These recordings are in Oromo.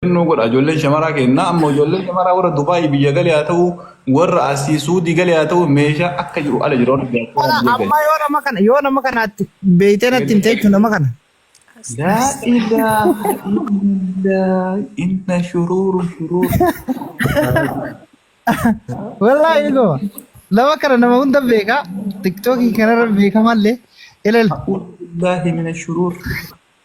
Nuu godha ijoolleen shamaraa kennaa amma ijoolleen shamaraa warra Dubaayii biyya galee haa ta'u warra asii Suudii galee haa ta'u meeshaa akka jiru ala jiru warra diaspora Kana biyya galee. amma yoo nama kana yoo nama kana atti beeytee natti himte jechuun nama kana. Laa ilaaha illallah inna shuruuru shuruur. Wallaahi goma. Nama kana nama hunda beekaa tiktookii kanarra beekamallee ilal. A'uudhu billaahi mina shuruur.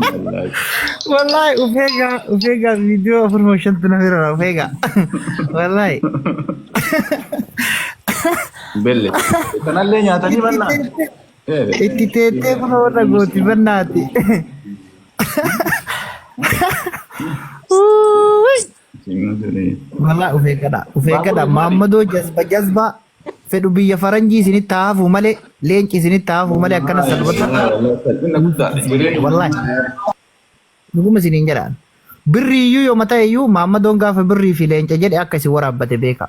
Wallaahi. Wallaahi ufeega ufeega viidiyoo afur moo shantu na bira ufeega. Wallaahi. Belle. Kanallee nyaatanii mannaa. Itti teettee kun warra gooti bannaati. Uuuy. Seenaa jedhee. Walaa of eeggadha. Of eeggadha. Baabura maali? Maammadoo jazba jazba fedhu biyya faranjii isinitti haafuu malee leenci isinitti haafuu malee akkana salphata. Salphina guddaadha. Jireenyi Wallahi. Dhuguma isiniin jedhaan. Birrii iyyuu yoo mataa iyyuu maammadoon gaafa birrii fi leenca jedhe akka isin waraabbate beeka.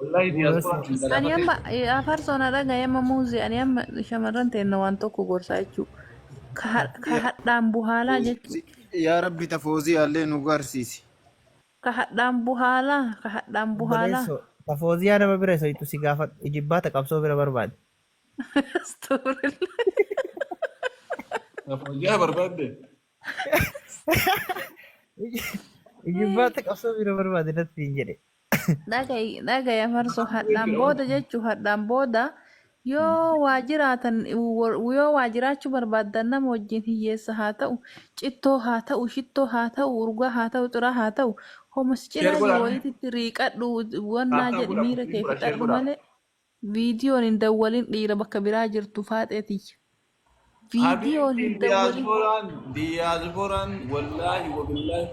Wallahi Bu'uura diaspora seenaa. hunda Ani lafa amma keessa. eh, afar sona dhaga amma muuzi ani amma shamarran teenna waan tokko gorsaa jechuu ka ha- ka Ya hadhaan buhaalaa jechuu Foozi, ya Rabbi ta Foozi alle nu garsiisi. ka hadhaan buhaalaa ka hadhaan buhaalaa Obboleesso, ta Fooziyaa nama bira isa ittu si gaafadhu. Ijibbaata qabsoo bira barbaadi. Astaghfirullah. Fooziyaa barbaadde. Ijibbaata qabsoo bira barbaade natti hin jedhe. Dhagay dhagaya farso hadhaan booda jechu hadhaan booda yoo waa jiraatan wor- yoo waa jiraachuu barbaaddan nama wajjin hiyyeessa haa ta'u cittoo haa ta'u shittoo haa ta'u urgaa haa ta'u xiraa haa ta'u homas cinaa jiru wayititti riiqadhu wannaa jedhi miira kee fixadhu malee Viidiyoon hin dawwalin dhiira bakka biraa jirtu faaxee tiyya. Viidiyoon Habiibti hin dawwalin. diyaaspooraan diyaaspooraan wallaahi wabillaahi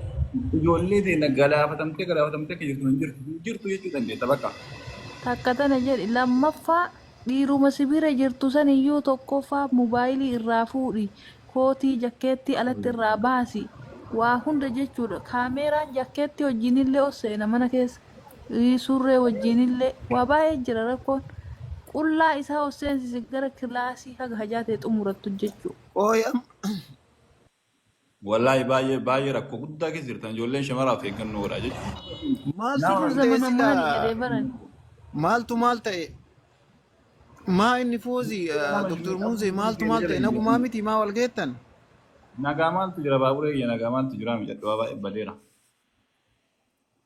ijoollee teenya galaafatamtee galaafatamtee akka jirtu hin jirtu hin jirtu jechuu dandeetta bakka. Takka tana jedhi lammaffaa dhiiruma si bira jirtu san iyyuu tokkoffaa mobaayilii irraa fuudhi kootii jakkeettii alatti irraa baasi waa hunda jechuudha kaameeraan jakkeettii wajjiinillee ol seena mana keessa ii, surree wajjiinillee waa baay'ee jira rakkoon. Qullaa isaa of seensisi gara kilaasii haga hajaa ta'e xumurattu hojjechuu. Qooyi amma. Wallaahi baay'ee baay'ee rakkoo guddaa keessa jirtan ijoolleen shamaraa of eeggannoo godhaa jechuudha. Maaltu Nama maal ta'e zamana maali silaa jedhee baran. maaltu maal ta'e maa inni foozi doktor muuzee maaltu maal ta'e nagumaa miti maa wal geettan Nagaa maaltu jira baaburee kiyya nagaa maaltu jira miidhagdhaa baay'ee badeera.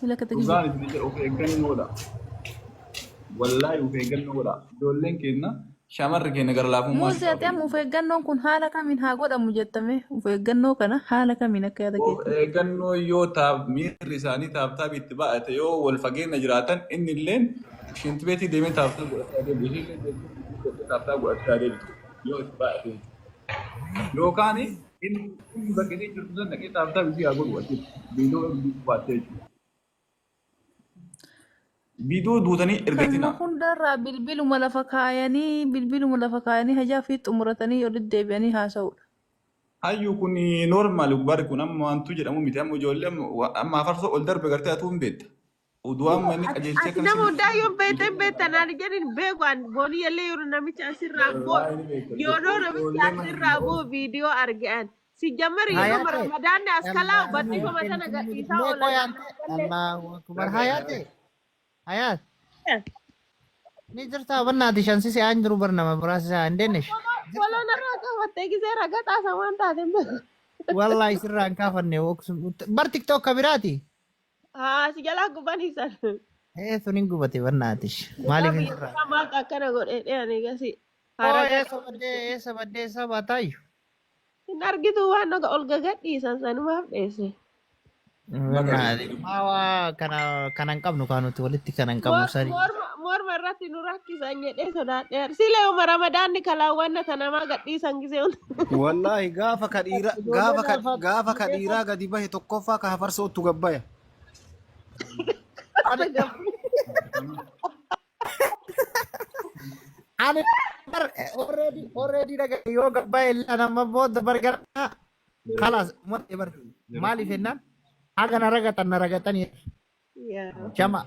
Sila kata kiyya. Dhugaan isin jedhu of eeggannoodha. Wallaahi of eeggannoo godha. Ijoolleen keenya shamarri keenya gara laafummaa Muuzi ati amma of eeggannoon kun haala kamiin haa godhamu jettame of eeggannoo kana haala kamiin akka yaada Of keetti. eeggannoo yoo taab miirri isaanii taabtaabii itti baay'ate yoo wal fageenya jiraatan inni illee shinti beetii deemee taabtaa godhachaa deemu ishee illee deemtee taabtaa godhachaa deemtu yoo itti baay'ate yookaan Inni inni bakka isheen jirtu sana dhaqee taabtaa ishee haa godhu achitti. Biidoo ergi baattee jechuudha. Biidoo duutanii Kanuma ergatinaa. hundarraa bilbiluma lafa kaayanii bilbiluma lafa kaayanii hajaa fi xumuratanii olitti deebi'anii haasa'uudha. Hayyu kun normal bari kun amma wantu jedhamu miti amma ijoollee amma wa- amma afarsoo ol darbe gartee atuu hin beekta. Oduu amma inni Ati qajeelchee ati kana nama sin hundaa yoo beekte hin beektan ani jedhin beeku an boonii yallee yoo namicha asirraa boo irraa inni beekta yoo noo namicha ijoollee mana asirraa boo hundaa'uun viidiyoo arge an si jammari yoo noo Hayate, ramadaanni as kalaa Allahu Akbar. badhifama Ken sana ken gadhiisaa me oolan koyante, ammaa gallee Allahu Akbar. Dhagaye Hayate, dhagaye. hayat. Ni jirta banna ati shansi si an jiru barna mabras sa andenish. foloo Jirta. foloo narraa qabattee gisee raga xaasa waan taate hin beeku. Wallahi sirra an kafanne oksum. Bar TikTok kabirati. Haa si jalaa gubanii san. Ee sun hin gubate barnaatish. Dhugaa Maaliif hin biyya sirraa? kanaa maaltu akkana godhe dhiyani gasi. Haa Hoo ragaa eessa baddee qabsiisu. eessa baddee eessa baataayyu? Hin argitu waan oga ol gagadhiisan sanumaaf dheesse. Barnaatish. Maa waa kana kana hin qabnu kaa nuti walitti kana hin qabnu Mor- sani. Morma morma irratti nu rakkisan jedhee sodaadheera. Silee uma ramadaanni kalaawwanna tanamaa gadhiisan gisee hunda. Wallaahi gaafa ka dhiira Ijoollee gaafa ka naafaa gaafa kana ka keessa dhiiraa gadi bahe tokkoffaa ka hafarsoottu gabbaya. Ani Ana gabbu. ani bar already already dhaga yoo gabbaya illee ana amma booda bar gara kalas mudhe bar maaliif jennaan haga na ragatan na ragatanii Yaa. jama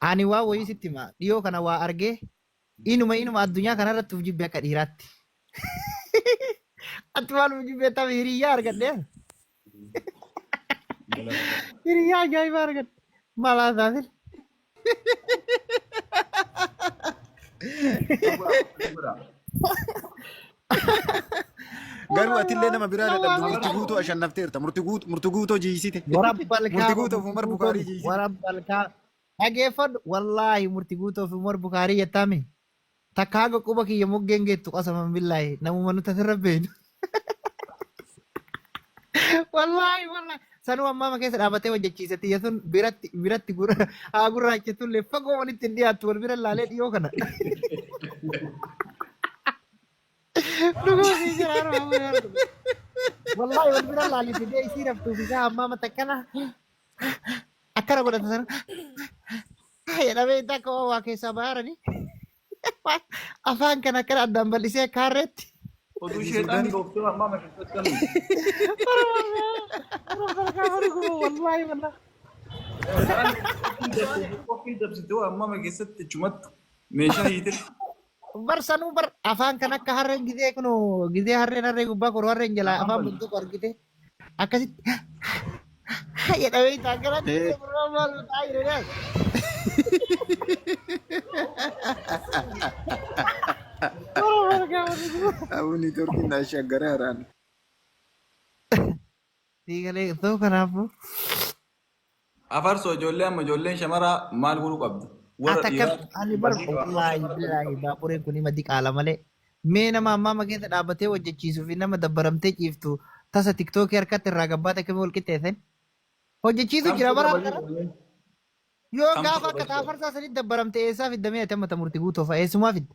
Ani waan wayii sitti hima. Dhiyoo kana waa argee inuma inuma addunyaa kanarratti of jibbe akka dhiiraatti. Ati waan of jibbeettaaf hiriyyaa argadhe. Hiriyyaa ajaa'ibaa argadhe. Maal haasaa sila? Garuu atillee nama biraa dadhabdu murti guutuu ashannafteerta. Murti guut- murti guutoo jiisite. Murti Warabbalkaa guutuu of Umar Bukaarii jiisite. warabbalkaa dhageeffadhu wallaahi murti guutuu of Umar Bukaarii jettaami takka haga quba kiyya moggeen geettu qasaman billaahi namuma nuti asirra beeknu. Wallaahi wallaahi Sanuu ammaama keessa dhaabatee hojjechiise xiyya sun biratti biratti gurra- haa gurraachetullee fagoo walitti hin dhiyaattu wal bira laalee dhiyoo kana. Dhuguma sii jira harma amma yoo argu. Wallaahi wal bira laalee fidee isii raftuuf isaa ammaama takkana akkana godhata sana. Jedhamee intaa akka waa waa keessaa bahaaranii. Afaan kan akkana addaan bal'isee akka harreetti. Oduu Ezi sheexaan Sudan. dhooftuu ammaa mashittuu akkamiin. Wallaahi wallaahi. Sheexaan qophiin dabsitu qophiin dabsitu ammaa ma keessatti chumattu meeshaa hiitee. Bar sanuu bar afaan kan akka harreen gizee kunoo gizee harreen harree gubbaa koroo harreen jalaa afaan bultuuko argitee. Akkasitti jedha beektaa akkana ta'e biroo maal ta'aa jira laal. Biroo maal gaafa dhufu. Abu networking na shaggara haraan. Sii galee too kanaafuu. Afarso ijoollee amma ijoolleen shamaraa maal godhuu qabdi? Warra Ata dhiiraa kaf ani bar Badii baabura wallaahi shamarra badii billaahi qabdi. baabureen kun hima diqaala malee mee nama ammaama keessa dhaabatee hojjechiisuu fi nama dabbaramtee ciiftu tasa tiktookii harkatti irraa gabbaata akkamiin wal qixxeessan hojjechiisu Kamtu jira bara irra badii harkara qabdi? yoo Kamtu gaafa irra akka badii qabdi? xaafarsaa sanitti dabbaramte eessaa fidda mee ati amma ta murti guutoo fa'a eessumaa fidda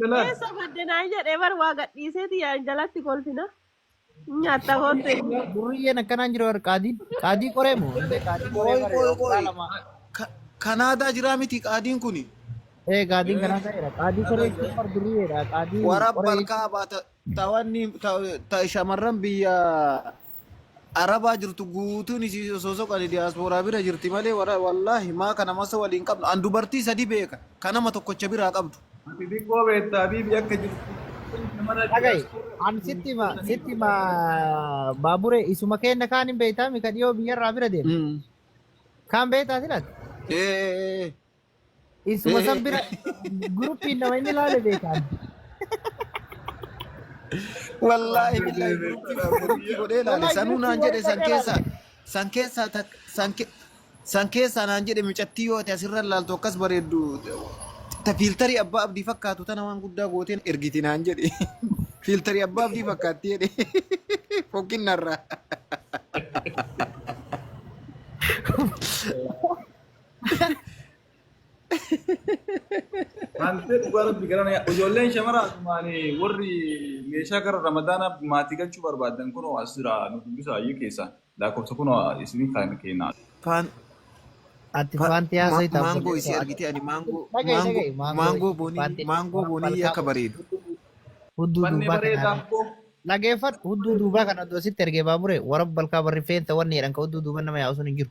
Jalaan. Eessa badde naan jedhee bar waa gadhiiseeti yaa jalatti kolfina. Nyaatta kootte inni. Durriyyeen akkanaan jira warri qaadiin. Qaadii qoree moo? Illee qaadii qoree Qoy bare qoy waggaa qoy. lama. Ka- Kanaadaa jiraa miti qaadiin kuni. Ee qaadiin kanaa ta'eera. Qaadii qoree jechuun bar durriyyeedha. Qaadii Wara qoree jechuun. balkaa baata Tawanni ta, ta shamarran biyya Arabaa jirtu guutuun isii osoo soqani diyaaspooraa bira jirti malee wara- wallaahi maa kana masa waliin qabnu an dubartii sadii beeka ka nama tokkocha biraa qabdu. Ati xiqqoo beekta Habiibi akka jirtu. Kun shamarran Dhagayi, diyaaspoora an jiru sitti hima, sadii sitti hima beekta. baabure isuma keenna kaan hin beektaa mika dhiyoo biyyarraa bira deema. Mm. Kaan beektaa silati? Ee, ee, ee. Isuma san bira guruppiin nama inni laale beekaan. Wallaahi billaahi guruppii guruppii godhee laale Wallaahi sanuu guruppii naan jedhe warra san dhaqee keessaa laale. san keessaa tak- san ke- san keessaa naan jedhe mucattii yoo ati asirra laaltu akkas bareeddu ta fiiltarii abbaa abdii fakkaatu tana waan guddaa gooteen ergiti naan jedhe fiiltarii abbaa abdii fakkaatti jedhe fokkinnarraa. Hantee dhugaa rabbi gara na ijoolleen shamaraa maali warri meeshaa gara ramadaanaa maatii galchuu barbaadan kunoo as jira nu dubbisaa iyyuu keessaa lakkoofsa kunoo isinii kan keenna. Faan Ati fa- faantii ma- haasa'ita maangoo obboleessa isii Waaqaa. argitee ani maangoo Dhaga'i maangoo dhaga'i maangoo maangoo boonii faantii maangoo boonii akka malkaamuu bareedu. hudduu Bannee duubaa bareedaa kanaan koo. dhageeffadhu hudduu duubaa kana osoo sitti ergee baabure warra balkaa barri feenta wanni jedhan ka hudduu duuban nama yaa'u sun hin jiru.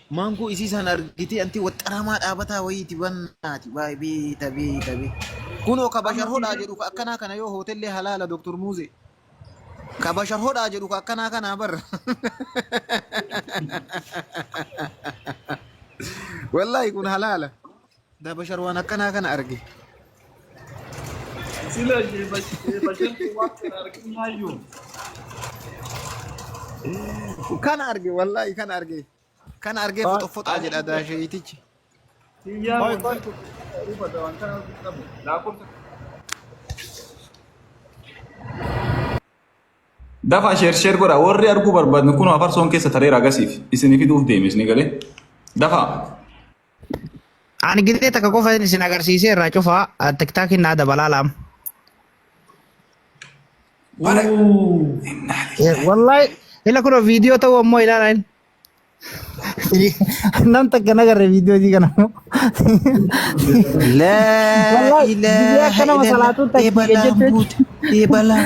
Maangoo isii isaan argitee anti waxxaramaa dhaabataa wayiiti bannaati baay beeta beeta beeta. Kunoo ka bashar hodhaa jedhu ka akkanaa kana yoo hootellee halaala Dr. Muuzee. Ka bashar hodhaa jedhu ka akkanaa kanaa bar. Wallaahi kun halaala. Dabashar waan akkanaa kana arge. Sila ishee bashantu waan kana arginaayyuu. Kana arge wallaahi kana arge. Kana argee Waan foxofoxaa ani jedha hin beeku. daasheetichi. Kiyyaan Qoy qoy. wanti tokko hubata waan kana arguu qabu. Lakkoofsa Dafa sheer sheer godha warri arguu barbaadne kun afarsoon keessa tareera agasiif isin fiduuf deeme isin galee dafa Ani gitee takka qofa isin agarsiisee irraa cufaa tiktaakiin naa dabalaa laam. Bara Wallahi ila kun viidiyoo ta'uu ammoo ilaalaa inni. Nam takka nagarre viidiyoo isii kana ammoo. Laa Wallahi, ilaaha biyya akkana illallah. masalaatuu taktiika Eebalaan jechuun- buute. Eebalaan.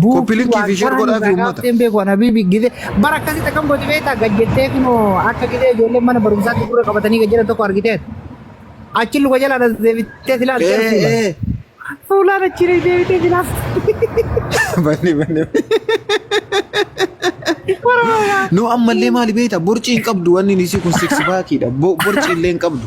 Buukii Copy link fi waan share godhaa fi kaaniif uummata. rakkaaftee hin beeku ana biibi gizee bara akkasitti akkam gooti beektaa gad jettee kunoo akka gizee ijoolleen mana barumsaatti gurra qabatanii gad jedhan tokko argiteet achi luka jala anas deebitee silaa Ee, argiteet fuula ee. fuulaan achi deebitee silaa Banne, banne. warra Nu ammallee maali beekta? Borcii hin qabdu wanni isii kun six pack dha. Bo- Borcii illee hin qabdu.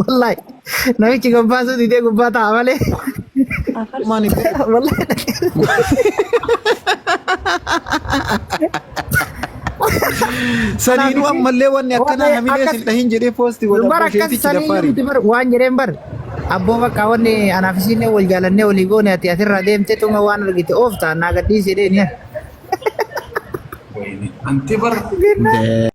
Wallahi. Namichi gabbaasuu didee gubbaa ta'a malee. Afarsuun Wallahi. Saniinuu ammallee wanni akkanaa hamilee sin dhahin jedhee poosti godha Bara akkas busheetichi sanii daffaari. nuti bar waan jedheen bar. Abboo bakka wanni anaaf isiin wal jaalannee walii goone ati asirraa deemtee tuma waan argite oofta naa gadhiisee deeniya. Anti bar